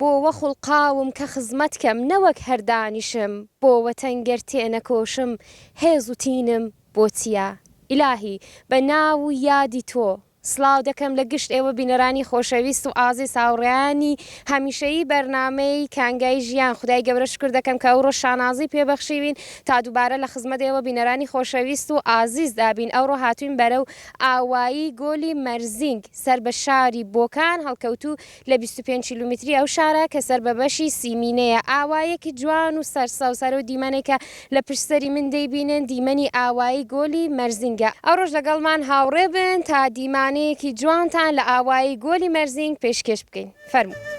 بۆوە خوڵقاوم کە خزمەت کەم نەوەک هەر دانیشم بۆوە تەنگەر تێنەکۆشم هێز و تینم بۆ چیە ئیلاهی بە ناو و یادی تۆ سڵاو دەکەم لە گشت ئێوە بینەرانی خۆشەویست و ئازیز هاوڕێیانی هەمیشەیی بەرنامەی کانگای ژیان خودای گەورە شوکر دەکەم کە ئەوڕۆش شانازی پێ بەخشیوین تا دوبارە لە خزمەت ئێوە بینەرانی خۆشەویست و ئازیز دا بین ئەوڕۆ هاتوین بەرەو ئاوایی گۆلی مەرزینگ سەر بە شاری بۆکان هەڵکەوتوو لە بیست و پێنج کیلومتری ئەو شارە کە سەر بە بەشی سیمینەیە، ئاوایەکی جوان و سەرسەوز، هەر ئەو دیمەنەی کە لە پشت سەری من دەیبینن، دیمەنی ئاوایی گۆلی مەرزینگە. ئەوڕۆش لەگەڵمان هاوڕێ بن تا دیمانەیەکی جوانتان لە ئاوایی گۆلی مەرزینگ پێشکێش بکەین. فەرموو.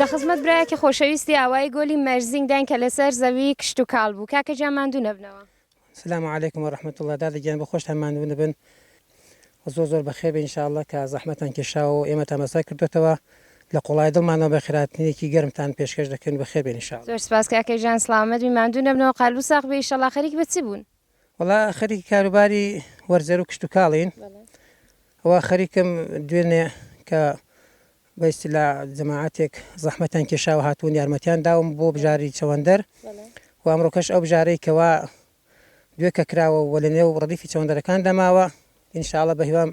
لە خزمەت برایەکی خۆشەویستی ئاوایی گۆلی مەرزینگ داین کە لەسەر زەوی کشت و کاڵ بوو کاکە جا ماندوو نەبنەوە سلام علیکم و رحمت الله دادە گیان بە خۆشتان ماندوو نەبن زۆر زۆر بەخێر بە انشاءله کە زەحمەتان کێشاوە و ئێمە تامەسای کردوێتەوە لە قوڵای دڵمانەوە بە خراپتنێکی گەرمتان پێشکەش دەکەن بە خێبێنیشا زۆر سپاس کاکەی ژان سلامەت بی ماندوو نەبنەوە قالبوو ساق بێ ئیشەڵا خەریک بە چ بوون وەڵا خەریکی کاروباری وەرزەرو کشتوکاڵین و خەریکم دوێنێ کە بە ئیستیلا جەماعاتێک زەحمەتان کێشاوە هاتوون یارمەتیان داوم بۆ بژاری چەوەندەر و ئەمڕۆکەش ئەو بژارەی کەوا دوێ کە کراوە و لە نێو ڕەدیفی چەوەندەرەکان دەماوە ان شاءاللە بەهیوام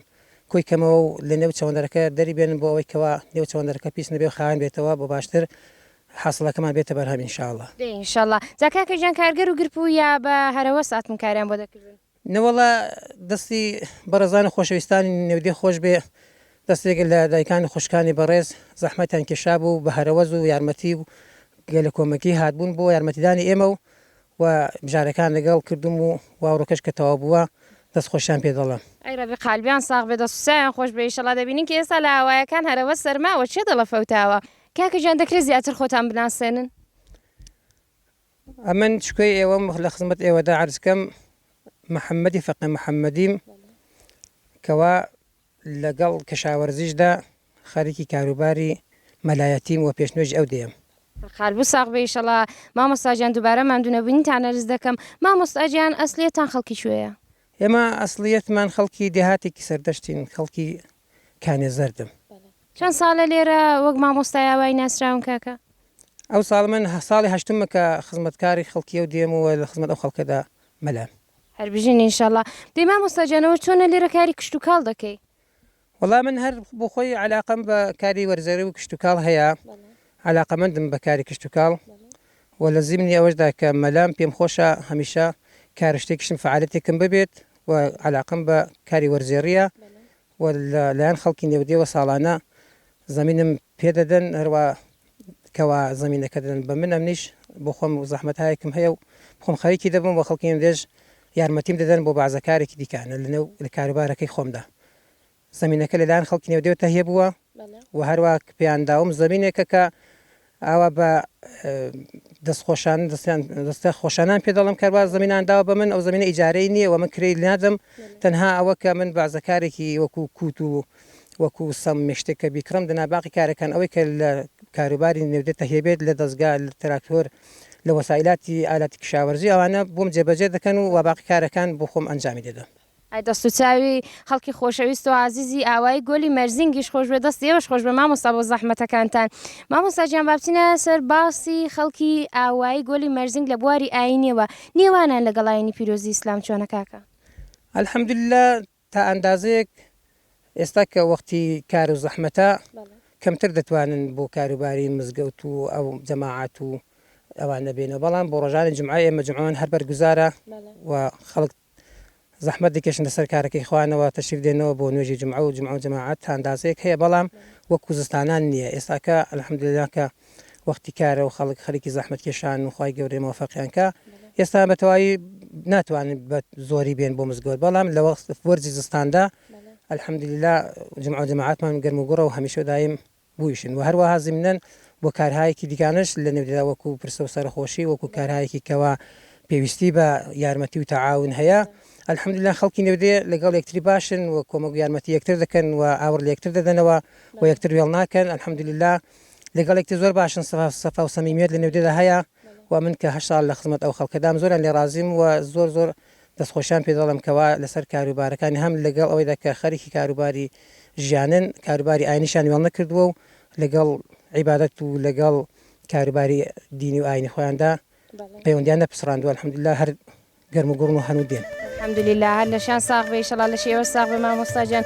کۆی کەمەوە و لە نێو چەوەندەرەکە دەری بێنن بۆ ئەوەی کەوا نێو چەوەندەرەکە پیس نەبێ و خاوێن بێتەوە بۆ باشتر حاسڵەکەمان بێتە بەرهەم ان شاءاللە. دەی ان شاءاللە جا کاکە گیان کارگەر و گرپوو یا بە هەرەوەز ئاتم کاریان بۆ دەکردن؟ نەوەڵا دەستی بەڕێزان و خۆشەویستانی نێودێ خۆش بێ دەستێک لە دایکان و خوشکانی بەڕێز زەحمەتیان کێشابوو بە هەرەوەز و یارمەتی و گەلەکۆمەکی هاتبوون بۆ یارمەتیدانی ئێمە و و بژارەکان لەگەڵ کردووم و واوڕەکەش کە تەواو بووە دەست خۆشیان پێ دەڵێم. ئەی رەبی قالبیان ساغ بێ دەست و چاویان خۆش بێ ئیشەڵا دەبینین کە ئێستا لە ئاوایەکان هەرەوە سەرماوە چێ دڵە فەوتاوە کاکە گیان دەکرێ زیاتر خۆتان بناسێنن؟ ئەمن چکۆی ئێوەم لە خزمەت ئێوەدا عەرز کەم محمدی فەقێ محمدیم کەوا لەگەڵ کشاوەرزیشدا خەریکی کاروباری مەلایەتیم وە پێشنوێژی ئەو دێم. قالبو ساغ بێ ئیشەڵا مامۆستا گیان دوبارە ماندو نەبونیتان ئەرز دەکەم مامۆستا گیان ئەسڵیتان خەڵکی کوێیە؟ ئێمە ئەسڵیەتمان خەڵکی دێهاتێکی سەردەشتین خەڵکی کانێ زەردم. چەند ساڵە لێرە وەک مامۆستای ئاوایی ناسراون کاکە؟ ئەو ساڵ من ساڵی هەشتمە کە خزمەتکاری خەڵکی ئەو دێم و لە خزمەت ئەو خەڵکەدا مەلام. هەر بژین ان شاءاللە. دەی مامۆستا گیان ئەوە چۆنە لێرە کاری کشتوکاڵ دەکەی؟ وەڵا من هەر بۆ خۆی عەلاقەم بە کاری وەرزەرە و کشتوکاڵ هەیە عەلاقەمەندم بە کاری کشتوکاڵ و لە زیمنی ئەوەشدا کە مەلام پێم خۆشە هەمیشە کار و شتێکیشم فەعالەتێکم ببێت و عەلاقەم بە کاری وەرزێڕیە و لە لایەن خەڵکی نێودێوە ساڵانە زەمینم پێ دەدەن هەروا کەوا زەمینەکە دەدەن بە من ئەمنیش بۆ خۆم و زەحمەتایەکم هەیە و خۆم خەریکی دەبم بە خەڵکی ئەمرێژ یارمەتیم دەدەن بۆ بەعزەکارێکی دیکانە لەنێو لە کاروبارەکەی خۆمدا زەمینەکە لەلایەن خەڵکی نێودێوە تەهیە بووە و هەروەک پێیان داوم زەمینێکە کە ئاوا بە دەست خۆشان دەستیان دەستە خۆشانان پێ دەڵم کەروا زمینان داوە بە من ئەو زمینە ئیجارەی نییە و من کرێی نادەم تەنها ئەوە کە من بازەکارێکی وەکو کووت و وەکو سەم مشتێک کە بیکڕم دەنا باقی کارەکان ئەوەی کە لە کاروباری نێودێت تەهێبێت لە دەستگا لە تراکتۆر لە وەسائلاتی ئالاتی کشاوەرزی ئەوانە بۆم جێبەجێ دەکەن و وە باقی کارەکان بۆ خۆم ئەنجامی دەدەم. ئای دەست و چاوی خەڵکی خۆشەویست و ئازیزی ئاوایی گۆلی مەرزینگیش خۆش بێ دەستی ئێوەش خۆش بێ مامۆستا بۆ زەحمەتەکانتان مامۆستا گیان با بچینە سەر باسی خەڵکی ئاوایی گۆلی مەرزینگ لە بواری ئاینیەوە نێوانان لەگەڵ ئاینی پیرۆزی ئیسلام چۆنە کاکە؟ الحمدللە تا ئەندازەیەک ئێستا کە وەختی کار و زەحمەتە کەمتر دەتوانن بۆ کاروباری مزگەوت و ئەو جەماعات و ئەوان نەبێنەوە بەڵام بۆ ڕۆژانی جمعە ئێمە جمعەوان هەر بەرگوزارە و خەڵک زەحمەت دەکێشن لەسەر کارەکەی خوانەوە تەشریف دێنەوە بۆ نوێژی جومعە و جومعە و جەماعەت تا ئەندازەیەک هەیە بەڵام وەک کوزستانان نیە ئێستاکە الحمدللە کە وەختی کارە و خەڵک خەریکی زەحمەت کێشان و خوای گەورەی مۆفەقیان کا ئێستا بە تەواوی ناتوانن بە زۆری بێن بۆ مزگەوت بەڵام لە وەخت وەرزی زستاندا الحمدللە جومعە و جەماعەتمان گەرم و گوڕە و هەمیشە دایم بویشن و هەروەها زیمنەن بۆ کارهایەکی دیکانەش لە نێودەدا وەکو پرسە و سەرەخۆشی وەکو کارهایەکی کەوا پێویستی بە یارمەتی و تەعاون هەیە الحمدللە خەڵکی نێودێ لەگەڵ یەکتری باشن و کۆمەک و یارمەتی یەکتر دەکەن و ئاوڕ لە یەکتر دەدەنەوە و یەکتر وێڵ ناکەن الحمدللە لەگەڵ یەکتر زۆر باشن سەفا و سەمیمیەت لە نێودێدا هەیە و من کە هەشت ساڵ لە خزمەت ئەو خەڵکەدام زۆریان لێ ڕازیم و زۆر زۆر دەستخۆشیان پێ دەڵێم کەوا لەسەر کاروبارەکانی هەم لەگەڵ ئەوەیدا کە خەریکی کاروباری ژیانن کاروباری ئاینیشیان وێڵ نەکردووە و لەگەڵ عیبادەت و لەگەڵ کاروباری دینی و ئاینی خۆیاندا پەیوەندیان نەپسڕاندووە الحمدللە هەر گەرم و گوڕن و هەن و دێن. الحمدللە هەر لەشیان ساغ بێ ئیشەڵا لەشی ئێوەش ساغ بێ مامۆستا گیان.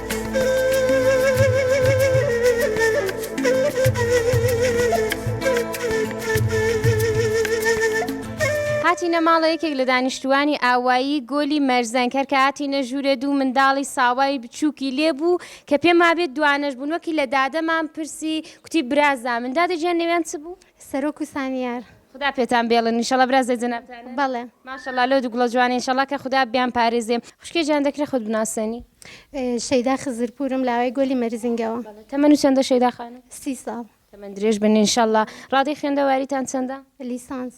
هاتینە ماڵە یەکێک لە دانیشتووانی ئاوایی گۆلی مەرزەنگ هەر کە هاتینە ژوورێ دوو منداڵی ساوای بچووکی لێ بوو کە پێم وابێت دوانەش بوون وەکی لە دادەمان پرسی کوتی برازامن دادە گیان نێویان چ بوو؟ سەرۆک و سامیار. خودا پێتان بێڵن ئیشەڵا برازێ جەنابتانە بەڵێ ماشەڵا لۆ دوگڵە جوانە ئیشەڵا کە خودا بیان پارێزێ خوشکێ جان دەکرێ خۆت بناسێنی. شەیدا خزرپورم لاوای گۆلی مەرزینگەوە. تەمەنو چەندە شەیدا خانم. سی ساڵ. تەمەن درێژ بن انشاللە. ڕادەی خوێندەواریتان چەندە؟ لیسانس.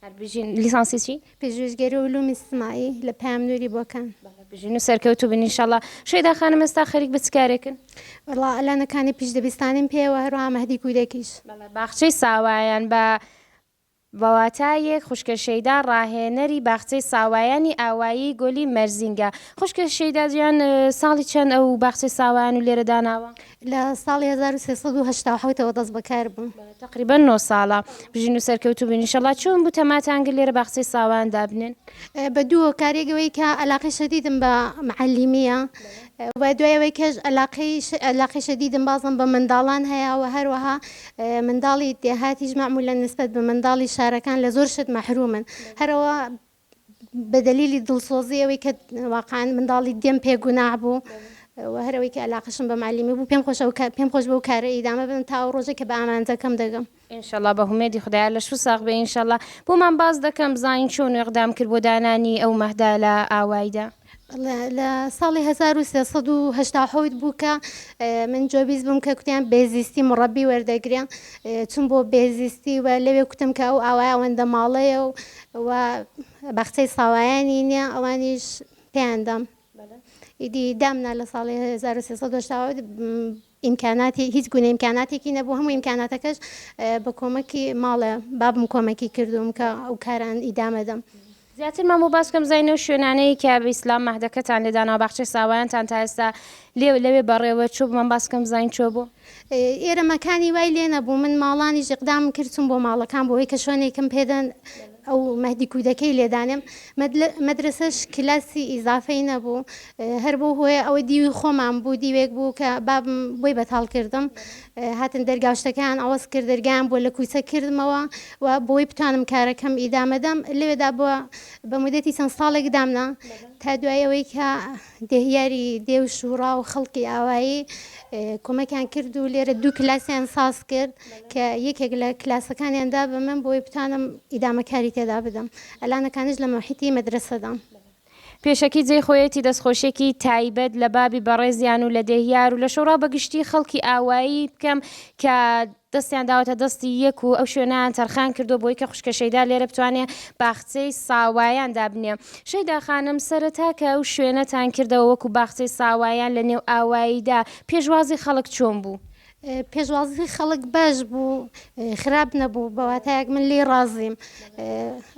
هەربژین. لیسانسی چی؟ پژویژگەری علوم اجتماعی لە پەیام نوری بۆکان. بژین و سەرکەوتو بن انشاللە. شەیدا خانم ئێستا خەریک بە چ کارێکن؟ وەڵا ئەلانەکانی پیش دەبیستانیم پێ وە هەروەها مەهدی کودەکیش. بەڵێ باخچەی ساوایان بە بە واتایەک خوشکە شەیدا ڕاهێنەری باخچەی ساوایانی ئاوایی گۆلی مەرزینگە. خوشکە شەیدا جیان ساڵی چەند ئەو باخچەی ساوایان و لێرە داناوە؟ لە ساڵی هەزار و سێ سەد و هەشتا و حەوتەوە دەست بەکار بووم. تقریبا نۆ ساڵە بژین و سەرکەوتوو بین انشاللە چۆن بوو تەماتانگر لێرە باخچەی ساوان دابنێن بە دوو هۆکارێک ئەوەی کە علاقەی شەدیدم بە معلیمیە و دوای ئەوەی کەش علاقەی علاقەی شەدیدم بازم بە منداڵان هەیە و هەروەها منداڵی دێهاتیش معمولە نسبەت بە منداڵی شارەکان لە زۆر شت مەحرومن هەرەوە بە دەلیلی دڵسۆزی ئەوەی کە واقعەن منداڵی دێم پێ گوناح بوو و هەرەوەی کە علاقشم بە معلیمی بوو پێم خۆشە پێم خۆش بەو کارە ئیدامە بن تا ئەو ڕۆژە کە بە ئامانجەکەم دەگەم ئینشەڵا بە هومێدی خدای لەش و ساغ بێ ئینشەڵا بۆمان باس دەکەم بزانین چۆن وێقدام کرد بۆ دانانی ئەو مەهدا لە ئاوایدا. لە ساڵی هەزار و سێ سەد و هەشتا و حەوت بوو کە من جۆبیز بووم کە کوتیان بێزیستی مڕەبی وەردەگرێ چون بۆ بێزیستی و لەوێ کوتم کە ئەو ئاوای ئەوەندە ماڵەیە و و بەخچەی ساوایانی نییە ئەوانیش پێیاندەم ئیدی دامنا لە ساڵی 1970 ئیمکاناتی هیچ گونە ئیمکاناتێکی نەبوو هەموو ئیمکاناتەکەش بە کۆمەکی ماڵێ بابم کۆمەکی کردووم کە ئەو کاران ئیدامەدەم. زیاتر مەموو باس کەم زای نەو شوێنانەی کە بە ئیسلام مەهدەکەتان لێ داناوە باخچەی ساوایانتان تا ئێستا لێ لەوێ بەڕێوە چوو بمەم باس کەم زاین چۆ بۆ ئێرە مەکانی وای لێ نەبوو من ماڵانی ژقدام کرد چوم بۆ ماڵەکان بۆی کە شوێنێکم پێدەن ئەو مەهدی کودەکەی لێدانێم مەدرەسەش کلاسی ئیزافەی نەبوو هەر بەو هۆیە ئەوە دیوی خۆمان بوو دیوێک بوو کە بابم بۆی بەتاڵ کردم هاتن دەرگاشتەکان ئەوەز کرد دەرگیان بۆ لە کوچە کردمەوە و بۆی بتوانم کارەکەم ئیدامەدەم لەوێدا بووە بە مدەتی چەند ساڵێک دامنا تا دوایەوەی کە دێهیاری دێ و شووڕا و خەڵکی ئاوایی کۆمەکیان کرد و لێرە دوو کلاسیان ساز کرد کە یەکێک لە کلاسەکانیاندا بە من بۆی بتوانم ئیدامەکاری تێدا بدەم ئەلانەکانش لە مەحیتی مەدرسەدام. پێشەکی جێی خۆیەتی دەستخۆشیەکی تایبەت لە بابی بەڕێزیان و لە دێهیار و لە شوڕا بەگشتی خەڵکی ئاوایی بکەم کە دەستیان داوەتە دەستی یەک و ئەو شوێنەیان تەرخان کردووە بۆی کە خوشکە شەیدا لێرە بتوانێ باخچەی ساوایان دابنێ. شەیدا خانم، سەرەتا کە ئەو شوێنەتان کردەوە وەکوو باخچەی ساوایان لە نێو ئاواییدا، پێشوازی خەڵک چۆن بوو؟ پێشوازی خەڵک باش بوو، خراپ نەبوو، بە واتایەک من لێی ڕازیم.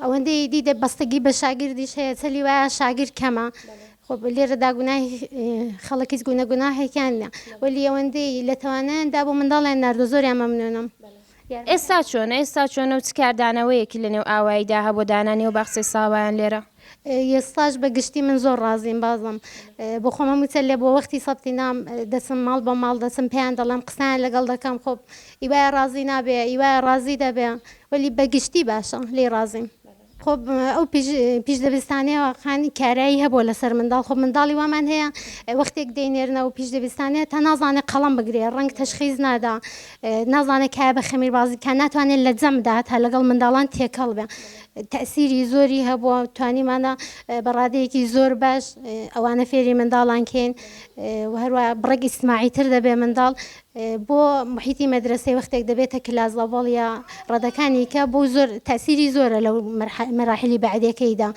ئەوەندەی ئیدی دەبەستەگی بە شاگردیش هەیە، چلی وایە شاگرد کەمە. خۆ لێرەدا گوناهی خەڵک هیچ گونە گوناهێکیان نیە وەلی ئەوەندەی لە توانایاندا بۆ منداڵیان ناردۆ زۆریان مەمنونم ئێستا چۆنە ئێستا چۆنە و چ کاردانەوەیەکی لە نێو ئاواییدا هەبوو دانانی و باخچەی ساوایان لێرە یێستاش بە گشتی من زۆر ڕازیم بازم بۆ خۆمە موچە لێ بۆ وەختی سەبتی نام دەچم ماڵ بە ماڵ دەچم پێیان دەڵێم قسان لەگەڵ دەکەم خۆ ئیوای ڕازی نابێ ئیوای ڕازی دەبێ وەلی بەگشتی باشە لێ ڕازیم خۆ ئەو پیش دەبستانەیە واقعان کارایی هەبووە لەسەر منداڵ خۆ منداڵی وامان هەیە وەختێک دەینێرنەوە پیش دەبستانەیە تا نازانێت قەڵم بگرێ ڕنگ تەشخیز نادا نازانێت کای بە خەمیر بازی کە ناتوانێت لە جەمدا تا لەگەڵ منداڵان تێکەڵ بێ تەسیری زۆری هەبووە توانیمانە بەڕادەیەکی زۆر باش ئەوانە فێری منداڵان کەین هەروە بڕێک ئیسماعی تر دەبێ منداڵ بۆ محیتی مەدرەسەی وەختێک دەبێتە کلاس لەڤەڵ یا ڕەدەکانی کە بۆ زۆر تاسیری زۆرە لەو مەراحلی بەعدەکەیدا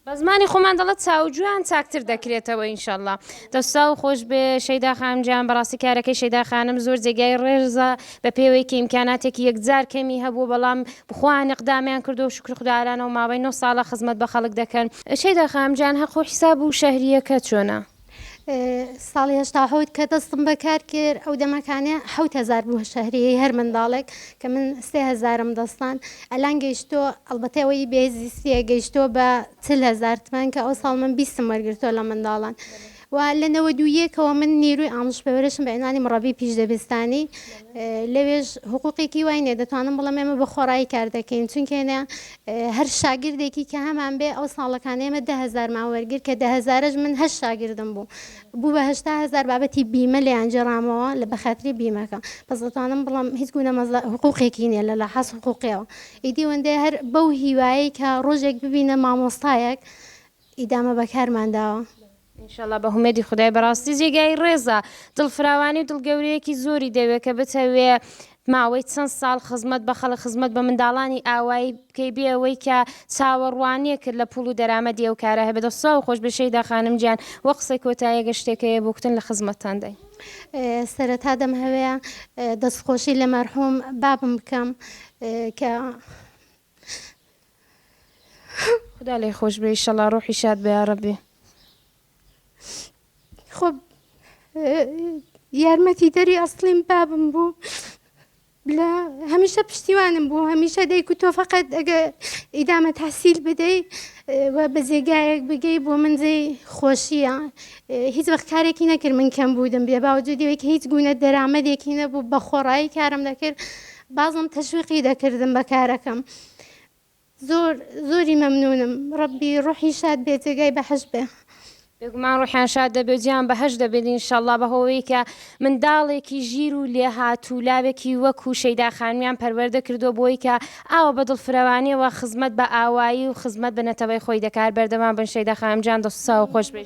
بە زمانی خۆمان دەڵێت چاوجویان چاکتر دەکرێتەوە ئینشەڵا دەساو خۆش بێ شەیدا خانمجیان بەڕاستی کارەکەی شەیدا خانم زۆر جێگای ڕێرزە بە پێوەی کە ئیمکاناتێکی یەکجار کەمی هەبوو بەڵام بخوایان نقدامیان کردو و شکر خوددارانەوە ماوەی نۆ ساڵە خزمەت بە خەڵک دەکەن شەیدا خانمجیان هەقو حیساب و شەهریەکە چۆنە؟ ساڵی هەشتا و حەوت کە دەستم بە کار کرد ئەو دەمەکانێ حەوت هەزار بوو شەهریەی هەر منداڵێک کە من سێ هەزارم دەستان ئەلان گەیشتۆ ئەڵبەتە ئەوەی بێزیسیە گەیشتۆ بە چل هەزار تمەن کە ئەو ساڵ من بیستم وەرگرتۆ لە منداڵان و لە نەوە دوویەکەوە من نیروی ئامش بەورشم بە عنوانی مڕەبی پیش دەبستانی لەوێش حقوقێکی وای نیە دەتوانم بڵم ئێمە بە خۆڕایی کار دەکەین چونکەێنە هەر شاگردێکی کە هەمان بێ ئەو ساڵەکان ئێمە دە هەزارمان وەرگر کە دە هەزارەش من هەش شاگردم بوو بوو بە هەشتا هەزار بابەتی بیمە لێیان جێڕامەوە لە بەخاتری بیمەکە بەس دەتوانم بڵم هیچ گونە مەزە حقوقێکی نیە لە لە حەس حقوقیەوە ئیدی وەندێ هەر بەو هیوایی کە ڕۆژێک ببینە مامۆستایەک ئیدامە بەکارمان داوە. انشاللە بەهومێدی خودای بەڕاستی جێگای ڕێزە دڵ فراوانی و دڵ گەورەیەکی زۆری دەوێ کە بتەوێ ماوەی چەند ساڵ خزمەت بە خەڵک خزمەت بە منداڵانی ئاوایی بکەی بێ ئەوەی کە چاوەڕوانیەکت لە پوڵ و دەرامەدی ئەو کارە هەبێ دەست ساغ و خۆش بێ شەیدا خانم گیان وە قسەی کۆتایی ئەگەر شتێک هەیە بۆ کوتن لە خزمەتتان داین. سەرەتا دەمهەوێ دەستخۆشی لە مەرحوم بابم بکەم کە خودا لێ خۆش بێ ئیشەڵا ڕۆحی شاد بە یاڕەبێ خۆ یارمەتی دەری ئەسلیم بابم بوو لە هەمیشە پشتیوانم بوو هەمیشە دەیکو تۆ فقط ئەگە ئیدامە تحسیل بدەی و بە جێگایەک بگەی بۆ من جێی خۆشیە هیچ وەخت کارێکی نەکرد من کەم بوودم بێ باوجدیەوەی کە هیچ گوونە دەرامەدێکی نەبوو بە خۆڕایی کارم دەکرد بازم تەشویقی دەکردم بە کارەکەم زۆر زۆری مەمنونم ڕەبی ڕوحی شاد بێ جێگای بەحەش بێ. بێگومان ڕوحیان شاد دەبێ و جێیان بەهەشت دەبێت ان شاء اللە بەهۆی کە منداڵێکی ژیر و لێهاتوو لاوێکی وەکو شەیدا خانمیان پەروەردە کردووە بۆی کە ئاوا بە دڵفرەوانیەوە خزمەت بە ئاوایی و خزمەت بە نەتەوەی خۆی دەکات بەردەوام بن شەیدا خانم جان دەست و چاو خۆش بێ.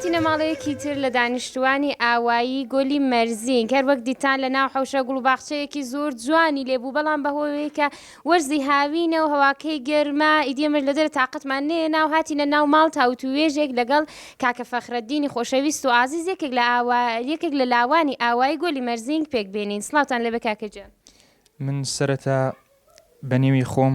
هاتینە ماڵەیەکی تر لە دانیشتوانی ئاوایی گۆلی مەرزین کەر وەک دیتان لە ناو حوشە گوڵ باخچەیەکی زۆر جوانی لێبوو بەڵام بەهۆیەوەی کە وەرزی هاوینە و هەواکەی گەرما ئیدێمەش لە دەرە تااقەتمان نێ ناو هاتینە ناو ماڵ تاوت و وێژێک لەگەڵ کاکە فەخرەدینی خۆشەویست و ئازیز یەکێک لە ئاوا یەکێک لە لاوانی ئاوایی گۆلی مەرزینگ پێک بێنین سڵاوتان لێبێ کاکە گیان. من سەرەتا بە نێوی خۆم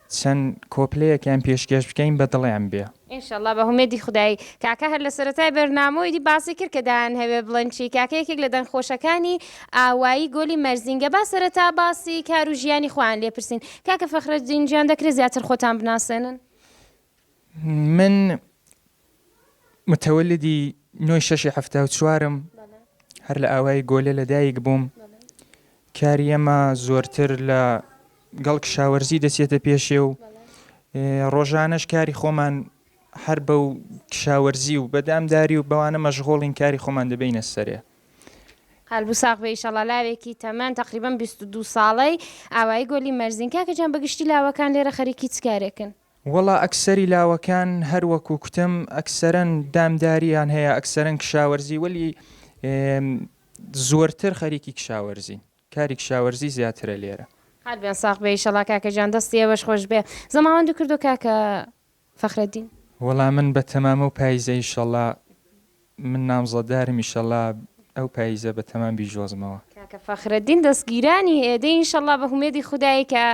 چەند کۆپلەیەکیان پێشکێش بکەین بە دڵیان بێ. ان شاء اللە بە هومێدی خودای. کاکە هەر لە سەرەتای بەرنامەوە ئیدی باسی کرد کە دان هەوێ بڵێن چی کاکە یەکێک لە دەنگ خۆشەکانی ئاوایی گۆلی مەرزینگە با سەرەتا باسی کار و ژیانی خۆیان لێ پرسین کاکە فەخرەدین گیان دەکرێ زیاتر خۆتان بناسێنن؟ من متولدی نۆی شەشی حەفتا و چوارم هەر لە ئاوای گۆلە لە دایک بووم کاری ئەمە زۆرتر لە گەڵ کشاوەرزی دەچێتە پێشێ و ڕۆژانەش کاری خۆمان هەر بە و کشاوەرزی و بەدامداری و بەوانە مەشغۆڵین کاری خۆمان دەبینە سەرێ. قەلبو ساغ بێ ئیشەڵا لاوێکی تەمەن تەقریبەن بیست و دوو ساڵەی ئاوایی گۆلی مەرزین کاکە گیان بەگشتی لاوەکان لێرە خەریکی چ کارێکن؟ وەڵا ئەکسەری لاوەکان هەر وەکو کوتم ئەکسەرەن دامداریان هەیە ئەکسەرەن کشاوەرزی وەلی زۆرتر خەریکی کشاوەرزین کاری کشاوەرزی زیاترە لێرە. قەلبێن ساغ بێ ئیشەڵا کاکە گیان دەستی ئێوەش خۆش بێ زەماوەندو کردو کاکە فەخرەدین. وەڵا من بە تەمام ئەو پایزە ئیشەڵا من نامزەدارم ئیشەڵا ئەو پایزە بە تەمام بیژۆزمەوە. کاکە فەخرەدین دەسگیرانی ئێدە ئینشەڵا بە هومێدی خودای کە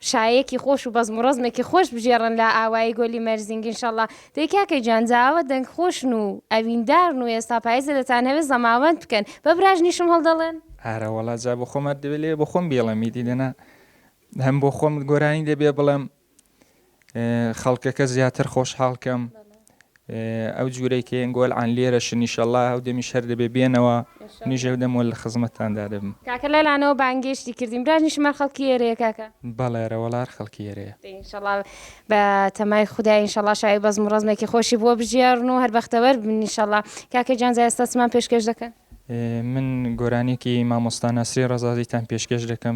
شایەکی خۆش و بەزم و ڕەزمێکی خۆش بژێڕن لە ئاوایی گۆلی مەرزینگ ان شاءاللە دەی کاکە گیان جا ئاوا دەنگ خۆشن و ئەویندارن و ئێستا پایزە دەتانهەوێ زەماوەند بکەن بە براژنیشم هەڵدەڵێن؟ ئارەوەڵا جا بۆ خۆمات دەبێ لێ بۆ خۆم بیڵێم ئیدی دەنا هەم بۆ خۆم گۆرانی دەبێ بڵێم خەڵکەکە زیاتر خۆشحاڵ کەم ئەو جورەی کە یەن گۆل عن لێرە شن ئیشەڵا هەو دەمیش هەر دەبێ بێنەوە منیش هەو دەم وەل خزمەتتان دا دەبم. کاکە لە لانەوە بانگێشتی کردین براش نیشم هەر خەڵکی ئێرەیە کاکە. بەڵێ ئەرە وەڵا هەر خەڵکی ئێرەیە. ان شاء اللە بە تەمای خودا ان شاء اللە شای بەزم و ڕەزمێکی خۆشی بووە بژیاڕن و هەر بەختەوەر بن ان شاء اللە کاکە گیان جا ئێستا چمان پێشکێش دەکەن؟ من گۆرانیەکی مامۆستا نەسری ڕەزازیتان پێشکێش دەکەم.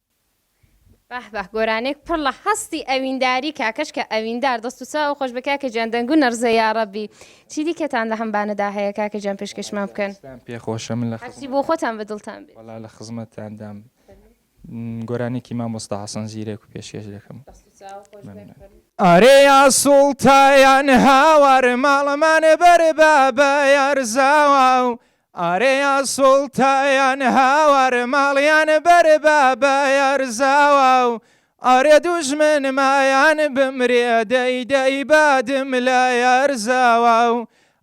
بەه بەه گۆرانێک پڕ لە هەستی ئەوینداری کاکەش کە ئەویندار دەست و چاو خۆش بێ کاکە گیان دەنگو نەڕزێ یاڕەبی چی دیکەتان لە هەم بانەدا هەیە کاکە گیان پێشکەشمان بکەن دەستان پێ خۆش من لە هەرچی بۆ خۆتان بە دڵتان بێت. وەڵا لە خزمەتتاندام گۆرانێکی مامۆستا حەسەن زیرەک پێشکێش دەکەم دەست و چاو خۆش بێ مەمنون. کورد. ئارێ یا سوڵتایان هاوار ماڵمان بەر بابە یارزاواو ئارێیا سوڵتایان هاوار ماڵیان بەر بە بەیار زاواو ئارێ دوژمن مایان بمرێ دەی دەی بادم لە یار زاواو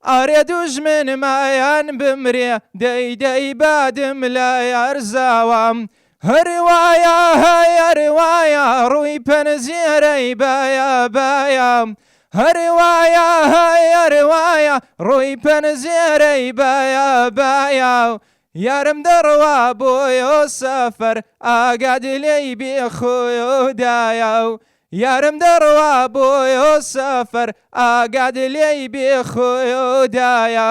ئارێ دوژمن مایان بمرێ دەی دەی بادم لە یار زاوام هەرێ وایە هەی هەرێ وایە ڕووی پەنجێرەی بایە بایە هەرێ وایە هەی هەرێ وایە ڕووی پەنجێرەی بایە بایە یارم دەڕوا بۆیۆ سەفەر ئاگاد لێی بێ خۆیۆ دایە و یارم دەڕوا بۆیۆ سەفەر ئاگاد لێی بێ خۆیۆ دایە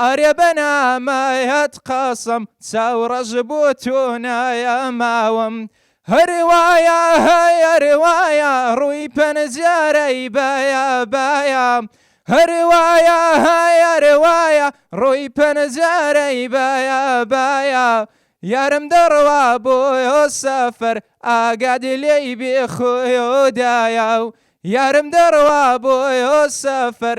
ئەرێ بە نامەیەت قەسەم چاو ڕەش بۆ تۆ نایەماوم هەر وایە هەر وایە ڕووی پەنجەرەی بایە بایە هەر وایە هەر وایە ڕووی پەنجەرەی بایە بایە یارم دەڕوا بۆ سەفەر ئاگات لێی بێ خۆدایە و یارم دەڕوا بۆ سەفەر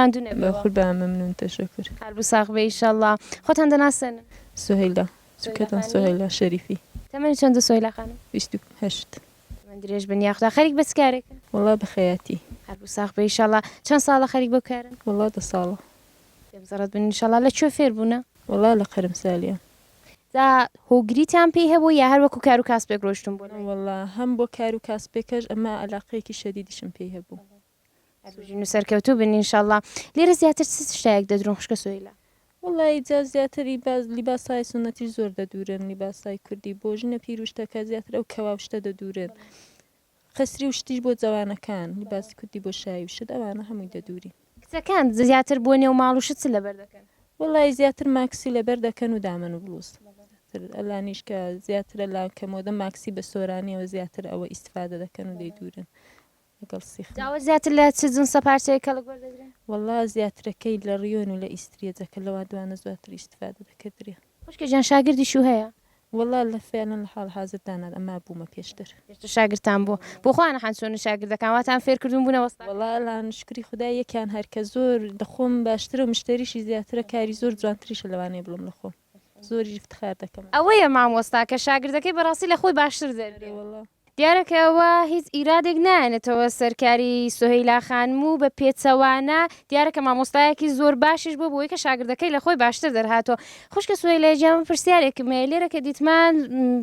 ماندو نەبێ بە خود بە ممنون تشکر هەر بوو ساغ بێ ئیشەڵڵا خۆتان دەناسن سهیلا سوکەتان سهیلا شەریفی تەمەنی چەندە سۆیلا خانم بیست و هەشت تەمەن درێژ بن یاخدا خەریک بەچ کارێکن؟ وەڵا بەخەیاتی. هەربوو ساخ بی ئیشەڵا چەن ساڵە خەریک بەو کارەن؟ وەڵا دە ساڵە. پێم زەڕەت بن ئیشەڵا لە کوێ فێر بوونە؟ وەڵا لە قەرمسالیان. جا هۆگریتان پێی هەبوو یا هەر وەکو کارو کاسپێک ڕۆشتون بۆ لای؟ نەوەڵا هەم بۆ کارو کاسپێکەش ئەمە ئەلاقەیەکی شەدیدیشم پێی هەبوو. هەربژین و سەرکەوتوو بن ان شاءاللە لێرە زیاتر چ شتایەک دەدرون خوشکە سوهیلا؟ وەڵا ی جا زیاتر ی با لیباسای سونەتیش زۆر دەدورن لیباسای کوردی بۆ ژنە پیر و شتەکە زیاتر ئەو کەوا و شتە دەدورن قەسری و شتیش بۆ جەوانەکان لیباسی کوردی بۆ شایی و شت ئەوانە هەمووی دەدورین. کچەکان زیاتر بۆ نێو ماڵ و شت چ لەبەر دەکەن؟ وەڵا ی زیاتر ماکسی لەبەر دەکەن و دامەن و بڵوز تر ئەلانیش کە زیاترە لان کە مۆدە ماکسی بە سۆرانیەوە زیاتر ئەوە ئیستفادە دەکەن و دەیدورن. لەگەڵ سیخم. داوەت زیاتر لە چ جنسە پارچەیەک کەڵک وەردەگرێ؟ وەڵا زیاترەکەی لە ڕیۆن و لە ئیستریەجە کە لەوا دوانە زۆرتر ئیستفادە دەکردرێ. خوشکە گیان شاگردیشو هەیە؟ وەڵا لە فعلەن لە حاڵ حازر دا نا ئەما بوومە پێشتر. پێشتر شاگردتان بووە؟ بۆ خۆیان نەحان چۆنن شاگردەکان واتان فێر کردوون بوونە وەستاکەر؟ وەڵا ئەلان شوکری خودا یەکیان هەر کە زۆر لە خۆم باشترە و مشتەریشی زیاترە کاری زۆر جوانتریشە لەوانەیە بڵێم لە خۆم زۆریش افتخار دەکەم. ئەوەیە مامۆستا کە شاگردەکەی بەڕاستی لە خۆی باشتر دەربێ. ئەرێ وەڵا. دیارە کە ئەوە هیچ ئیرادێک نایەنێتەوە سەر کاری سوهەیلا خانم و بە پێچەوانە دیارە کە مامۆستایەکی زۆر باشیش بووە بەوەی کە شاگردەکەی لە خۆی باشتر دەرهاتووە. خوشکە سوهەیلای گیان من پرسیارێکم هەیە لێرە کە دیتمان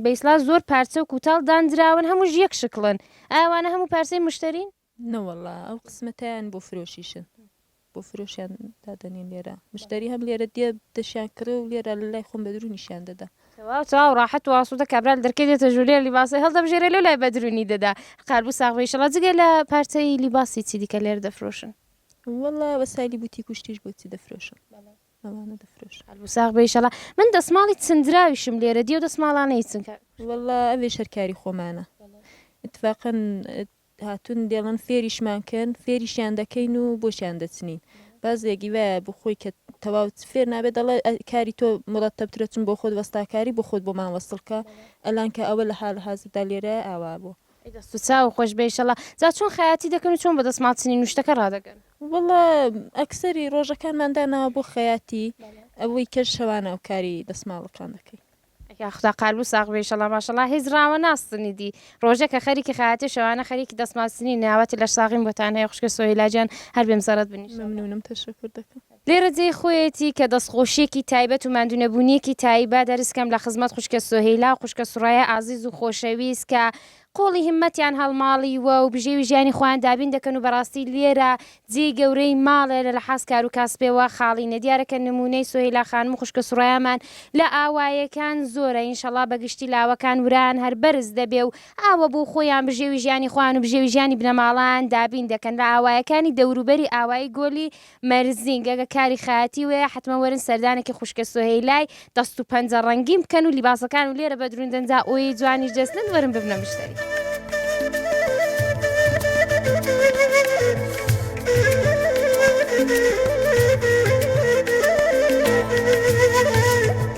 بە ئیسڵاح زۆر پارچە و کوتاڵ داندراون هەمووش یەک شکڵن ئایا وانە هەموو پارچەی مشتەرین؟ نەوەڵا ئەو قسمەتەیان بۆ فرۆشیشن بۆ فرۆشیان دادەنین لێرە مشتری هەم لێرە دێ دەشیان کڕێ و لێرە لە لای خۆم بەدرونیشیان دەدا تەواو تەواو ڕاحەت و ئاسوودە کابرا لە دەرکەی دێتە ژوورێ لیباسەی هەڵدەبژێرێ لۆ لای بەدرونی دەدا قەربوو ساغ بی ئیشەڵا جگە لە پارچەی لیباسی چی دیکە لێرە دەفرۆشن وەڵا وەسایلی بوتیک و شتیش بۆچی دەفرۆشن ئەوانە دەفرۆشن قەربوو ساغ بی ئیشەڵا من دەسماڵی چندراویشم لێرە دی ئەو دەسماڵانەی چن کار وەڵا ئەوێش هەر کاری خۆمانە ئیتفاقەن هاتوون دەڵێن فێریشمان کەن، فێریشیان دەکەین و بۆشیان دەچنین. بەعزێکی وایە بۆ خۆی کە تەواو فێر نابێت دەڵێ ئە کاری تۆ مورەتەبترە چون بۆ خۆت وەستاکاری بۆ خۆت بۆمان وەسڵ کە ئەلان کە ئەوە لە حالە حازردا لێرەیە ئاوا بووە. ئەی دەست و چاوو خۆش بێ ئیشەڵا. جا چۆن خەیاتی دەکەن و چۆن بە دەسماڵ چنین و شتەکە ڕادەگەن؟ وەڵا ئەکسەری ڕۆژەکانمان داناوە بۆ خەیاتی ئەوەی کە شەوانە کاری دەسماڵەکان دەکەین. یاخدا قالبو ساغ بێ ئیشەڵا ماشەڵا هیچ ڕاوە ناسنی دی ڕۆژێ کە خەریکی خەیاتی شەوانە خەریکی دەسمال سنینی ئاواتی لەش ساغیم بۆتان هەیە خوشکە سۆهیلا جیان هەر بێ مزەڕەت بن ئیشەڵا. مەمنونم تەشەکور دەکەم. لێرە جێی خۆیەتی کە دەستخۆشیەکی تایبەت و ماندونەبونیەکی تایبە دەرز کەم لە خزمەت خوشکە سۆهیلا و خوشکە سوڕەیا ئازیز و خۆشەویست کە قۆڵی هیمەتیان هەڵماڵی وە و بژێوی ژیانی خۆیان دابین دەکەن و بەڕاستی لێرە جێی گەورەی ماڵێ لە لەحاز کارو کاسپێ وە خاڵی نیە دیارە کە نمونەی سۆهیلا خانم و خوشکە سوڕەیامان لە ئاوایێکان زۆرە ئینشەڵا بە گشتی لاوەکان ورەیان هەر بەرز دەبێ و ئاوە بۆ خۆیان بژێوی ژیانی خۆیان و بژێوی ژیانی بنەماڵەیان دابین دەکەن لە ئاوایەکانی دەوروبەری ئاوایی گۆلی مەرزینگ، ئەگەر کاری خەیاتی وەیە حەتمەن وەرن سەردانێکی خوشکە سۆهەیلای دەست و پەنجە ڕەنگین بکەن و لیباسەکان و لێرە بەدرون دەنجا ئۆیەی جوانیش دەستنن وەرن ببنە مشتەری.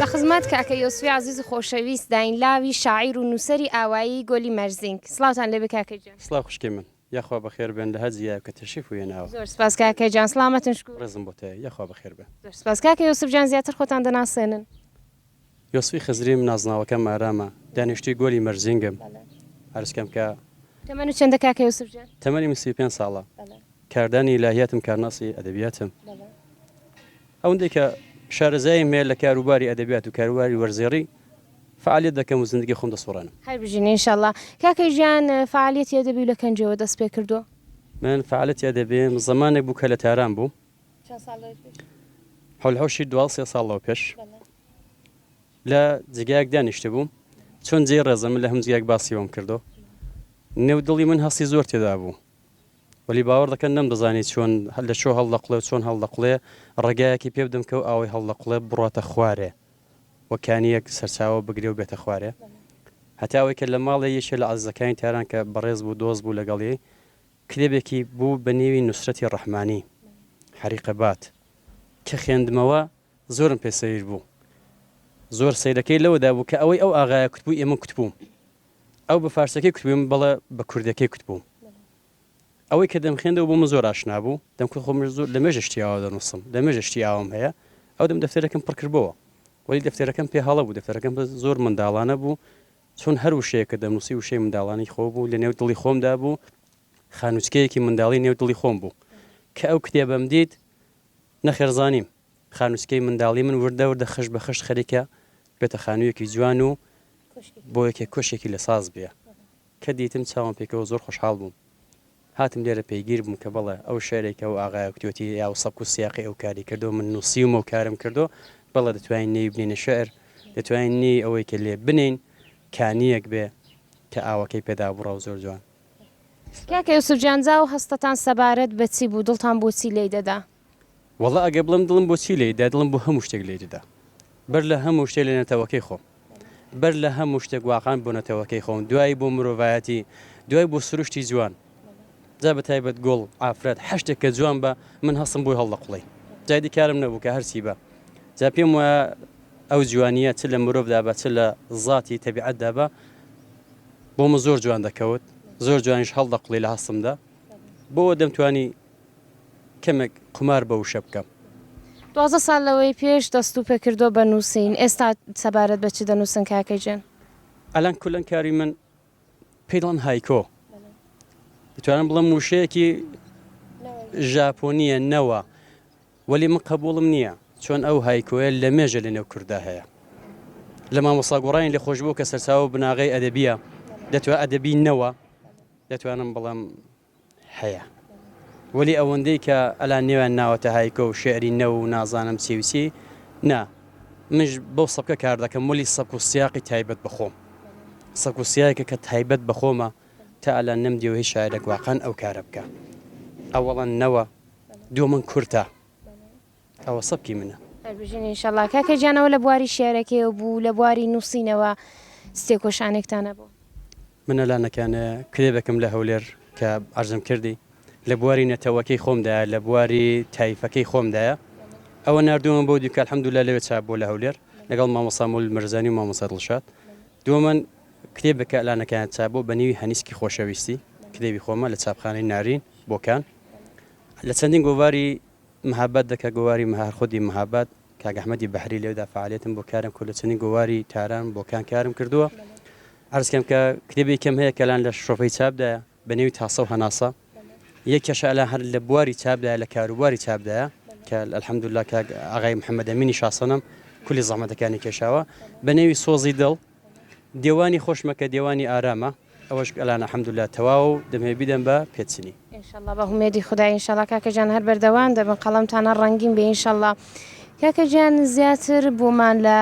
لە خزمەت کاکە یۆسفی عەزیز و خۆشەویست داین لاوی شاعیر و نووسەری ئاوایی گۆلی مەرزینگ. سڵاوتان لێبێ کاکە گیان. سڵاو خوشکەی من. یاخوا بەخێر بێن لە هەر جیایەک کە تەشریف وهێناوە. زۆر سپاس کاکە گیان. سڵامەتن شکور. ڕێزم بۆتەیە. یاخوا بەخێر بێن. زۆر سپاس کاکە یۆسف گیان زیاتر خۆتان دەناسێنن. یۆسفی خزریم نازناوەکەم ئارامە. دانیشتووی گۆلی مەرزینگم. عەرزکەم کە. تەمەن و چەندە کاکە یۆسف گیان. تەمەنی من سی و پێنج ساڵە. کاردانی ئیلاهیاتم کارناسی ئەدەبیاتم ئەوەندەی کە شارەزاییم هەیە لە کاروباری ئەدەبیات و کاروباری وەرزێڕی فعالیت دەکەم و زندگی خۆم دەسوڕێنم. هەر بژین ان شاءاللە. کاکە ژیان فعالیەتی ئەدەبیو لە کەنجەوە دەست پێ کردووە؟ من فعالیەتی ئەدەبیم زەمانێک بوو کە لە تاران بووم. چەند ساڵ لەوە پێش؟ حەول حوشی دوازدە سێ ساڵ لەوە پێش. بەڵێ. لە جێگایەک دانیشتبووم چۆن جێی ڕێزە من لە هەموو جێگایەک باسی ئەوەم کردووە. نێو دڵی من هەستی زۆر تێدا بوو. وەلی باوەڕ دەکەن نەمدەزانی چۆن لە چۆ هەڵدەقڵێ و چۆن هەڵدەقڵێ، ڕێگایەکی پێ بدەم کە ئەو ئاوەی هەڵدەقڵێ بڕواتە خوارێ و کانییەک سەرچاوە بگرێ و بێتە خوارێ. هەتا ئەوەی کە لە ماڵێ یەکێ لە عەزیزەکانی تاران کە بەڕێز بوو دۆست بوو لەگەڵیی، کتێبێکی بوو بە نێوی نوسرەتی ڕەحمانی، حەریقە بات، کە خێندمەوە، زۆرم پێ سەیر بوو زۆر سەیرەکەی لەوەدا بوو کە ئەوەی ئەو ئاغایە کوتبووی ئەمن کوتبووم ئەو بە فارسەکەی کوتبووم بەڵێ بە کوردەکەی کوتبووم ئەوەی کە دەمخێندەوە بۆ من زۆر ئاشنا بوو دەم کورد خۆم زۆر لە مێژە شتیاوە دەنووسم لە مێژە شتی ئاوام هەیە ئەو دەم دەفتەرەکەم پڕکردبەوە وەلی دەفتەرەکەم پێ هەڵە بوو دەفتەرەکەم بە زۆر منداڵانە بوو چون هەر وشەیەکە دەنووسی وشەی منداڵانی خۆ بوو لە نێو دڵی خۆمدا بوو خانوچکەیەکی منداڵی نێو دڵی خۆم بوو کە ئەو کتێبم دیت نەخێر زانیم خانووچکەی منداڵی من وردە وردە خشت بە خشت خەریکە بێتە خانوویەکی جوان و بۆ یەکێک کۆشکێکی لە ساز بێ. کە دیتم چاوم پێکەوە زۆر خۆشحاڵ بووم. هاتم لێرە پەیگیر بووم کە بەڵێ ئەو شعرەی کە ئەو ئاغایە کوتێتی یا ئەو سەبک و سیاقەی ئەو کاری کردووە من نووسیومە و کارم کردووە بەڵێ دەتوانین نێوی بنێینە شعر، دەتوانین نێوی ئەوەی کە لێ بنێین کانییەک بێ کە ئاوەکەی پێدا بڕا و زۆر جوان. کاکە یوسف جان جا ئەو هەستەتان سەبارەت بە چی بوو دڵتان بۆ چی لێی دەدا؟ وەڵا ئەگەر بڵێم دڵم بۆ چی لێی دا دڵم بۆ هەموو شتێک لێی دەدا بەر لە هەموو شتێک لە نەتەوەکەی خۆم بەر لە هەموو شتێک واقان بۆ نەتەوەکەی خۆم دوایی بۆ مرۆڤایەتی دوای بۆ سروشتی جوان جا بە تایبەت گۆڵ ئافرەت حەشتێک کە جوان بە من هەستم بۆی هەڵدەقڵی جادی کارم نەبوو کە هەرچی بە جا پێم وایە ئەو جوانیە چ لە مرۆڤدا بە چ لە ذاتی تەبیعەتدا بە بۆ من زۆر جوان دەکەوت زۆر جوانیش هەڵدەقڵی لە هەستمدا بۆ دەمتوانی کەمێک قومار بە وشە بکەم. دوازدە ساڵ لەوەی پێش دەست و پێ کردووە بە نووسین، ئێستا سەبارەت بە چ دەنووسن کاکە گیان؟ ئەلان کولەن کاری من پێی دەڵێن هایکۆ. دەتوانم بڵێم وشەیەکی ژاپۆنییە نەوە وەلی من قەبووڵم نییە چۆن ئەو هایکۆیە لەمێژە لەنێو کورددا هەیە. لە مامۆستا گۆڕانی لێخۆشبوو کە سەرچاوە و بناغەی ئەدەبییە، دەتوان ئەدەبی نەوە دەتوانم بڵێم هەیە. وەلی ئەوەندەی کە ئەلان نێویان ناوەتە هایکۆ و شێعری نەو و نازانم چی و چی، نا. منیش بەو سەبکە کار دەکەم وەلی سەبک و سیاقی تایبەت بە خۆم. سەبک و سیاقێکە کە تایبەت بە خۆمە. تا ئەلان نەمدیوە هیچ شاعیرێک واقان ئەو کارە بکا. ئەوەڵا نەوە. دومن کورتە ئەوە سەبکی منە. هەربژین ان شاء اللە. کاکە گیان ئەوە لە بواری شیعرەکەیەوە بوو لە بواری نووسینەوە چ تێکۆشانێکتان هەبوو؟ من ئەلانەکان کتێبێکم لە هەولێر کە عەرزم کردی لە بواری نەتەوەکەی خۆمدایە لە بواری تایفەکەی خۆمدایە ئەوە ناردوومە بۆ دیکە الحمدللە لەوێ چاپ بوو لە هەولێر لەگەڵ مامۆستا مولد مرزانی و مامۆستا دڵشاد دووەمەن کتێبێک کە ئەلانەکەیان چاپ بوو بە نیوی هەنیسکی خۆشەویستی کتێبی خۆمە لە چاپخانەی نارین بۆکان لە چەندین گۆڤاری مهاباد دەکە گۆواری مهار خودی مهاباد کاک ئەحمەدی بەحری لێودا فعالیتم بۆ کارم کورد لە چەندین گۆواری تاران بۆکان کارم کردووە ئەرزکەم کە کتێبی کەم هەیە کەلان لە شۆفەی چاپدایە بە نێوی تاسە و هەناسە یەکێشە ئەلا هەر لە بواری چاپدایە لە کاروباری چاپدایە کە الحەمدللا کاک ئاغای محەممەدەمینی شاسەنم کولی زەحمەتەکانی کێشاوە بە نێوی سۆزی دڵ دێوانی خۆش مەکە دێوانی ئارامە ئەوەش ئەلان الحمدللە تەواوە و دەمەوێت بیدەم بە پێدچنی. ان شاء اللە بە هومێدی خودا ان شاء اللە کاکە جان هەر بەردەوام دەبن قەڵەمتان هەر ڕەنگین بێ ان شاء اللە کاکە جان زیاتر بۆمان لە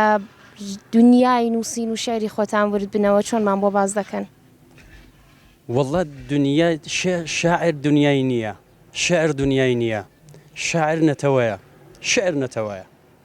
دنیای نووسین و شعری خۆتان ورد بنەوە چۆنمان بۆ باس دەکەن. وەڵڵا دنیا شاعر دنیای نییە شعر دنیای نییە شاعر نەتەوەیە شعر نەتەوەیە.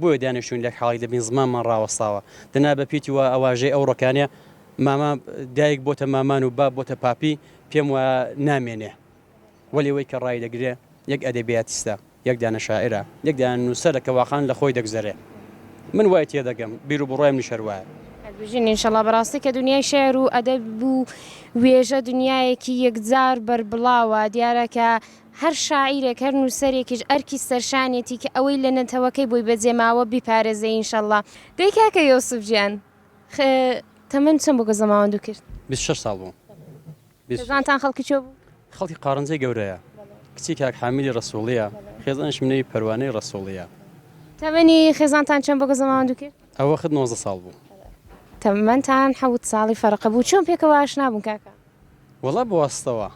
بۆیە دانیشتووین لەک حاڵیک دەبین زمانمان ڕاوەستاوە دەنا بە پیتی وا ئەواژەی ئەو ڕۆکانێ ماما دایک بۆتە مامان و باب بۆتە پاپی پێم وا نامێنێ وەلێ وەی کە ڕای دەگرێ یەک ئەدەبیاتیستە یەک دانە شاعرە یەک دانە نووسەرە کە واقعان لە خۆی دەگزەرێ من وای تێ دەگەم بیر و بڕای منیش هەر وایە بژین ئینشەڵا بەڕاستی کە دنیای شعر و ئەدەب بوو وێژە دنیایەکی یەکجار بەربڵاوە دیارە کە هەر شاعیرێک هەر نووسەرێکیش ئەرکی سەرشانێتی کە ئەوەی لە نەتەوەکەی بۆی بەجێ ماوە بیپارێزێ ئینشەڵا. دەی کاکە یۆسف گیان خە تەمەن چەند بوو کە زەماوەندو کرد؟ بیست شەش ساڵ بووم. بیست شەش. خێزانتان خەڵکی کوێ بوو؟ خەڵکی قارنجەی گەورەیە. کچی کاک حامیدی رەسووڵییە. خێزانیشم نێوی پەروانەی رەسووڵییە. تەمەنی خێزانتان چەند بوو کە زەماوەندو کرد؟ ئەوەخت نۆزدە ساڵ بوو. تەمەنتان حەوت ساڵی فەرق بوو. چۆن پێکەوە ئاشنا بوون کاکە؟ وەڵا بەواستەوە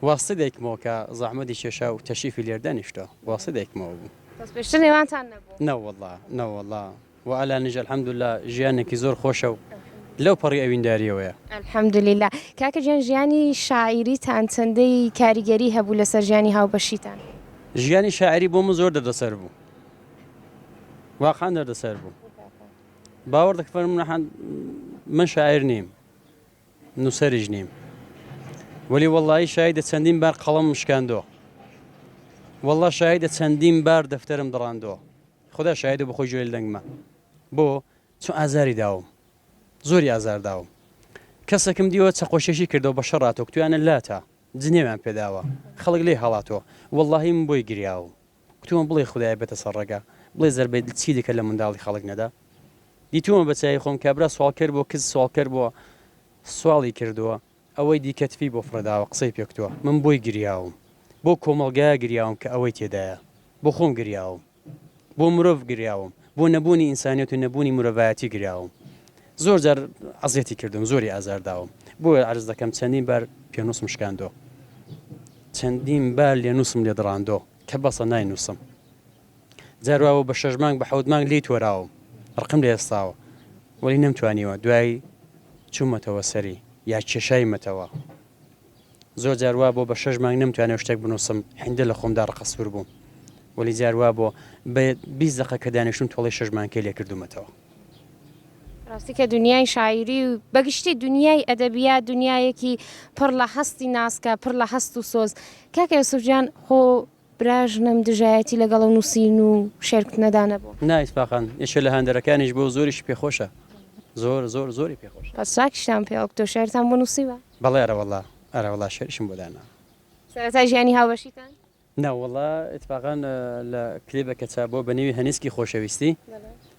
واستە دەیکمەوە کە زەحمەتی کێشا و تەشیفی لێر دانیشتە واستە دەیکمەوە بوو. بەس پێشتر نێوانتان نەبوو؟ نەوەڵا نەوەڵا وە ئەلانیش الحمدللە ژیانێکی زۆر خۆشە و لەو پەڕی ئەوینداریەوەیە. الحمدللە. کاکە گیان ژیانی شاعیریتان چەندەی کاریگەری هەبوو لەسەر ژیانی هاوبەشیتان؟ ژیانی شاعیری بۆ من زۆر دەردەسەر بوو واقعەن دەردەسەر بوو باوەڕ دەکە من شاعیر نیم. نوسەریش نیم وەلی وەڵایی شایدە چەندین بار قەڵەمم شکاندووە وەڵا شایدە چەندین بار دەفتەرم دڕاندووە خدا شایدە بخۆی جوێل دەنگمە بۆ چون ئازاری داوم زۆری ئازار داوم کەسەکەم دیوە چەقۆشێشی کردەوە بە شەڕاتۆک تویانە لاتە جنێویان پێداوە خەڵک لێ هەڵاتەوە وەڵاهیم بۆی گریاوم گوتومە بڵێ خودایە بێتە سەر ڕێگا، بڵێ زەربەی دل چی دەکرد لە منداڵی خەڵک نەدا؟ دیتوومە بە چاوی خۆم کابرا سواڵکەر بۆ کز سواڵکەر بۆ سواڵی کردووە، ئەوەی دیکە تفی بۆ فڕێداوە قسەی پێ کتووە، من بۆی گریاوم، بۆ کۆمەڵگایا گریاوم کە ئەوەی تێدایە، بۆ خۆم گریاوم، بۆ مرۆڤ گریاوم، بۆ نەبوونی ئینسانیەت و نەبوونی مرۆڤایەتی گریاوم. زۆر جار عەزێتی کردوم زۆری ئازار داوم بۆیە عەرز دەکەم چەندین بار پێنووسم شکاندۆ چەندین بار لێ نووسم لێ دڕاندۆ کە بەسە نای نووسم جارواوە بە شەش مانگ بە حەوت مانگ لی تۆراوم ڕقم لە ئێستاوە وەی نەمتوانیوە دوای چوومەتەوە سەری یا کێشای مەتەوە زۆر جار وابۆ بە شەش مانگ نەمتوانێ شتێک بنووسم هیندە لە خۆمدا ڕقە سوور بووم وەلی جار وابۆ بە بیست دەقە کە دانیشتوم تۆڵەی شەش مانکەی لێ کردوومەتەوە. ڕاستی کە دونیای شاعیری و بە گشتی دونیای ئەدەبیات دونیایەکی پڕ لە هەستی ناسکە پڕ لە هەست و سۆز کاکە یوسف جان خۆ براژنم دژایەتی لەگەڵ نووسین و شێرکتنەدا نەبوو. نا ئیتفاقەن یەکێ لە هاندەرەکانیش بوو زۆریشی پێ خۆشە زۆر زۆر زۆری پێ خۆشە. بەس چاکیشتان پێ ئۆکتۆ شێعرتان بۆ نووسیوە؟ بەڵێ ئەرەوەڵا ئەرەوەڵا شێعریشم بۆ دانا. سەرەتای ژیانی هاوبەشیتان؟ ناوەڵا ئیتفاقەن لە کلیبەکە چا بووە بە نێوی هەنیسکی خۆشەویستی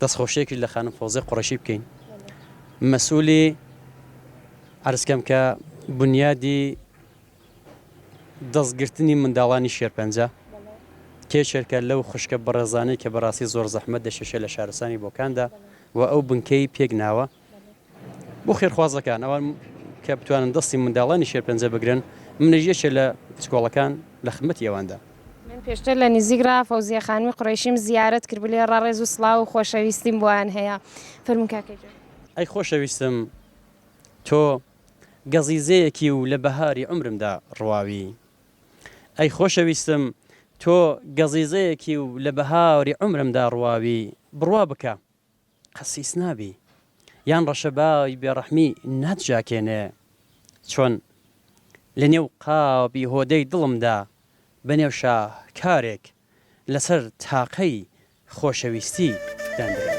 دەستخۆشیەکیش لە خانم فۆزێ قوڕەشی بکەین مەسولی عەرز کەم کە بنیادی دەست گرتنی منداڵانی شێرپەنجە کێچێرکە لەو خوشکە بەڕێزانەی کە بەڕاستی زۆر زەحمەت دەشێشێ لە شارستانی بۆکاندا و ئەو بنکەی پێک ناوە. بۆ خێرخوازەکان ئەوان کە بتوانن دەستی منداڵانی شێرپەنجە بگرن، منیش یەکێ لە کچکۆڵەکان لە خدمەتی ئەواندا. من پێشتر لە نیزیک ڕا فەوزیە خانمی قورەیشیم زیارەت کرد بلێ ڕەڕێز و سڵاو و خۆشەویستیم بۆیان هەیە. فەرموون کاکە گیان. ئەی خۆشەویستم تۆ گەزیزەیەکی و لە بەهاری عومرمدا ڕواوی. ئەی خۆشەویستم تۆ گەزیزەیەکی و لە بەهاری عومرمدا ڕواوی، بڕوا بکە. قسیس نابی یان ڕەشە بای بێڕەحمی ناتژاکێنێ چۆن لە نێو قاپی هۆدەی دڵمدا بە نێو شاهکارێک لە سەر تاقەی خۆشەویستی داندرا.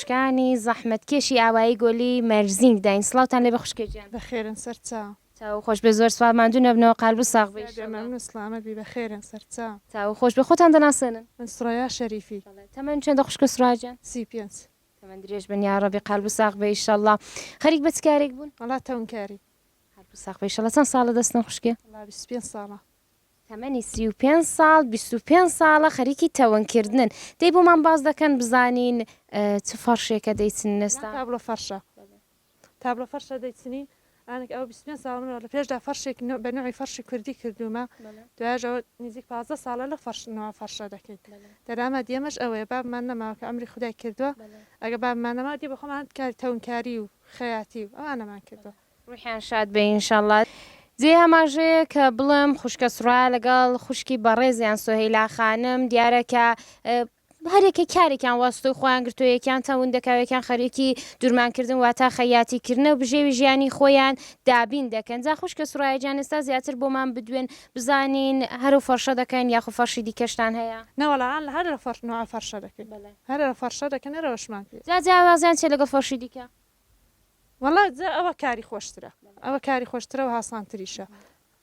کانی زەحمەت کێشی ئاوایی گۆلی مەرزینگ داین سڵاوتان لێبێ خوشکە گیان. بەخێرن سەرچا. چاوو خۆش بێ زۆر سپاس ماندوو نەبنەوە قالبو ساغ بی تکایە انشاللە. مەمنون سڵامەت بی بەخێرن سەرچا. چاوو خۆش بێ خۆتان دەناسێنن. من سڕەیا شەریفی. بەڵێ تەمەن چەندە خوشکە سڕەیا گیان. سی پێنج. تەمەن درێژ بن یاڕەبی قالبو ساغ بێ ئیشەڵا خەریک بە چ کارێک بوون؟ وەڵا تەونکاری. قالبو ساغ بێ ئیشەڵا چەند ساڵە دەستن خوشکێ؟ وەڵا بیست و پێنج ساڵە. تەمەنی سی و پێنج ساڵ بیست و پێنج ساڵە خەریکی تەون کردنن دەی بۆمان باس دەکەن بزانین چ فەڕشێکە دەیچنن ئێستا. تابلۆ فەڕشە تابلۆ فەڕشە دەیچنین ئانک ئەوە بیست و پێنج ساڵە منەوە لە پێشدا فەڕشێک نوع بە نوعی فەڕشی کوردی کردوومە دوایەش ئەوە نیزیک پازدە ساڵە لەو فەڕش نوعە فەڕشە دەکەین دەرامەت یەمەش ئەوەیە بابمان نەماوە کە ئەمری خودای کردووە ئەگە بابمان نەماوە دێ بە خۆمان کاری تەونکاری و خەیاتی و ئەوانەمان کردووە ڕوحیان شاد بێ ئینشەڵا. جێی ئاماژەیە کە بڵێم خوشکە سڕایا لەگەڵ خوشکی بەڕێزیان سۆهەیلا خانم دیارە کە هەریەکە کارێکیان واستۆی خۆیان گرتو یەکیان تەون دەکاوێکیان خەریکی دورمانکردن واتا خەیاتیکردنە و بژێوی ژیانی خۆیان دابین دەکەن جا خوشکە سرایەجان ئێستا زیاتر بۆمان بدوێن بزانین هەرو فەرشە دەکەن یاخو فەرشی دیکەشتان هەیە. نەوەڵا هەر لە فەرش نوعە فەرشە دەکەین هەر لە فەرشە دەکەن هەر ئەوەشمان پێ. جا جیاوازیان چیە لەگەڵ فەرشی دیکە؟ وەڵا جا ئەوە کاری خۆشترە. ئەوە کاری خۆشترە و هاسانتریشە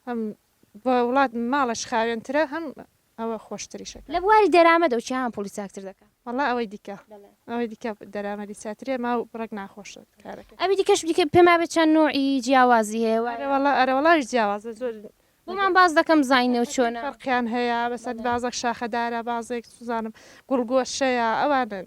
هەم بۆ وڵات ماڵەش خاوێنترە هەم ئەوە خۆشتریشە کاری. لە بواری دەرامەدەوە چیان پوڵی چاکتر دەکا؟ وەڵا ئەوەی دیکە ئەوەی دیکە دەرامەدی چاترێ ما و ڕێک ناخۆشە کارەکەی. ئەوی دیکەش بریکە پێما بێ چەند نوعی جیاوازی هەیە وایە؟ ئەرە وەڵا ئەرە وەڵاش جیاوازە زۆر. بۆمان باس دەکە بزانینە و چۆنە؟ فەرقیان هەیە بەسەر بازێک شاخەدارە بازێک چزانم گوڵگۆشەیە ئەوانن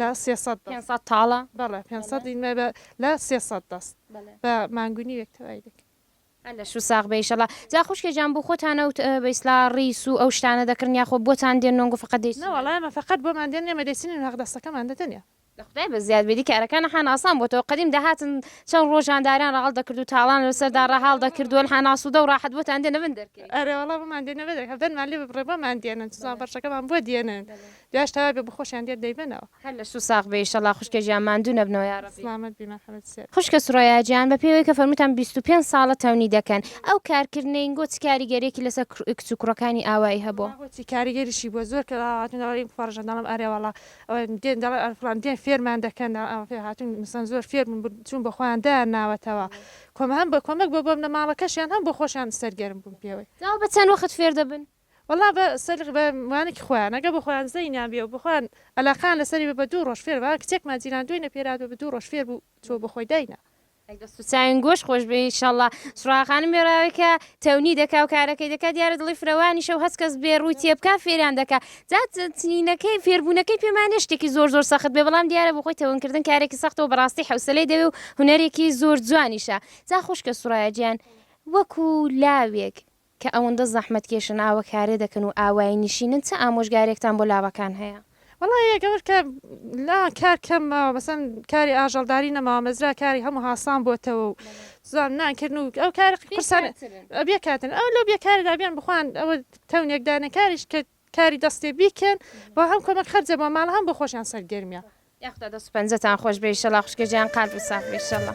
لە سێ سەد پێنج سەد تاڵە بەڵێ پێنج سەد ئینمە بە لە سێ سەد دەست بەڵێ بە مانگونی وێک تەوای دەکەین. هەر لەش و ساغ بێ ئیشەڵا. جا خوشکێ جان بو خۆتان ئەو بە ئیسلا ڕیس و ئەو شتانە دەکڕن یاخۆ بۆتان دێن نۆنگو فەقەت دەی نە وەڵا ئێمە فەقەت بۆمان دێن ئێمە دەیچنین هەق دەستەکەمان دە دەنێ. لە خودای بە زیاد بێ دی کارەکان حان ئاسان بۆتەوە قەدیم دەهاتن چەن ڕۆژ جانداریان ڕەهەڵ دەکرد و تاڵان لە سەردا ڕەهاڵ دەکرد وەل حان ئاسودە و ڕاحەت بۆتان دێنە بن دەرکەی. ئەرێ وەڵا بۆمان دێنە بە دەرکەی دەنمان لێ ببڕێ بۆمان دێنن چزان بەڕشەکەمان بۆ دێنن جاش تەوای بێ بخۆشیان دێت دەیبەنەوە. هەر لە سو ساغ بی ئیشەڵا خوشکە جیان ماندو نەبنەوە یارەبی. سڵامەت بی مەحەمەد سێر. خوشکە سورەیا جیان بە پێی وەی کە فەرموتان بیست و پێنج ساڵە تەونی دەکەن ئەو کار کردنەی نگۆ چ کاریگەریەکی لەسەر کچ و کوڕەکانی ئاوایی هەبۆ؟ وەڵا بۆچی کاریگەریشی بووە زۆر کەس ئاوا هاتوون دەڵێن بپەڕژن دەڵێم ئەرێ وەڵا ئەوێن دێن دەڵێن ئەرێ فڵان دێن فێرمان دەکەن ئەوە فێ هاتوون مەسەن زۆر فێر بوون بر چوون بۆ خۆیان دایان ناوەتەوە کۆمە هەم بە کۆمەک بۆ بەمنەماڵەکەشیان هەم بۆ خۆشیان سەرگەرم بوون پێوەی. جا بە چەند وەخت فێر دەبن؟ وەڵا بە سەر بە وانەکی خۆیان ئەگە بە خۆیان زەینیان بێ و بە خۆیان ئەلاقەیان لە سەری بێ بە دوو ڕۆژ فێر بە کچێکمان جیران دووی نەپێراد بە بە دوو ڕۆژ فێر بوو چووە بە خۆی داینا. ئەی دەست و چاوین گۆش خۆش بێ ان شاءاللە سوڕا خانم بێ ڕاوێ کە تەونی دەکا و کارەکەی دەکا دیارە دڵی فرەوانیشە و هەست کەس بێ ڕووی تێ بکا فێریان دەکا جا تنینەکەی فێربوونەکەی پێمان نیە شتێکی زۆر زۆر سەخت بێ بەڵام دیارە بۆ خۆی تەون کردن کارێکی سەختە و بەڕاستی حەوسەلەی دەوێ و هونەرێکی زۆر جوانیشە جا خوشکە سوڕایە جیان وەکوو لاوێک کە ئەوەندە زەحمەتکێشن ئاوە کارێ دەکەن و ئاوایی نیشینن چ ئامۆژگارێکتان بۆ لاوەکان هەیە؟ وەڵا یەک ئەوەش کە لا کار کەم ماوە مەسەن کاری ئاژەڵداری نەماوە مەزرا کاری هەموو هاسان بۆتەوە و زان نانکردن و ئەو کار قرسان بێکاتن ئەو لەو بێکاردا بیان بخوان ئەوە تەونێکدانە کاریش کرد کاری دەستێ بیکەن بۆ هەم کۆمەک خەرجە بۆ ماڵ هەم بۆ خۆشیان سەرگەرمیە. یاخودا دەست و پەنجەتان خۆش بێ ئیشەڵا خوشکە جیان قال بە ساغ بی ئیشەڵا.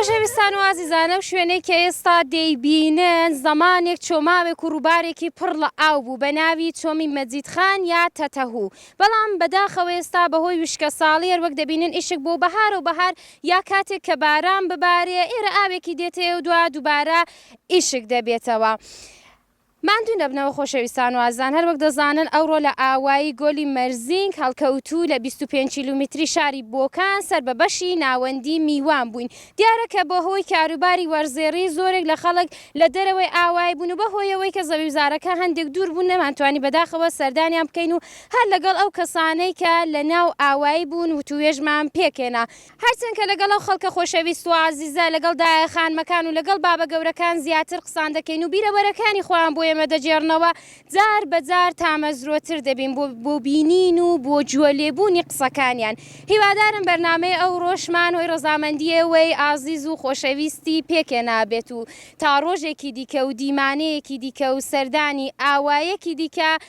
خۆشەویستان و ئازیزان ئەم شوێنەی کە ئێستا دەیبینن زەمانێک چۆماوێک و ڕووبارێکی پڕ لە ئاو بوو بە ناوی چۆمی مەجیدخان یا تەتەهوو بەڵام بەداخەوە ئێستا بەهۆی وشکەساڵی هەروەک دەبینن ئیشک بۆ بەهار و بەهار یا کاتێک کە باران ببارێ ئێرە ئاوێکی دێتەوە دوا دووبارە ئیشک دەبێتەوە. ماندوو نەبنەوە خۆشەویستان و ئازیزان، هەروەک دەزانن ئەوڕۆ لە ئاوایی گۆلی مەرزینگ هەڵکەوتوو لە بیست و پێنج کیلومیتری شاری بۆکان سەر بە بەشی ناوەندی میوان بووین، دیارە کە بەهۆی کاروباری وەرزێڕی زۆرێک لە خەڵک لە دەرەوەی ئاوایی بوون و بەهۆی ئەوەی کە زەویوزارەکە هەندێک دوور بوو نەمانتوانی بەداخەوە سەردانیان بکەین و هەر لەگەڵ ئەو کەسانەی کە لەناو ئاوایی بوون وتووێژمان پێکهێنا. هەرچەند کە لەگەڵ ئەو خەڵکە خۆشەویست و ئازیزە، لەگەڵ دایە خانمەکان و لەگەڵ بابە گەورەکان زیاتر قسان دەکەین و بیرەوەرەکانی خۆیان بۆ ئێمە دەگێڕنەوە، جار بە جار تامەزرۆتر دەبین بۆ بینین و بۆ گوێ لێبوونی قسەکانیان. هیوادارم بەرنامەی ئەوڕۆشمان هۆی ڕەزامەندی ئێوەی ئازیز و خۆشەویستی پێکێنابێت و تا ڕۆژێکی دیکە و دیمانەیەکی دیکە و سەردانی ئاوایەکی دیکە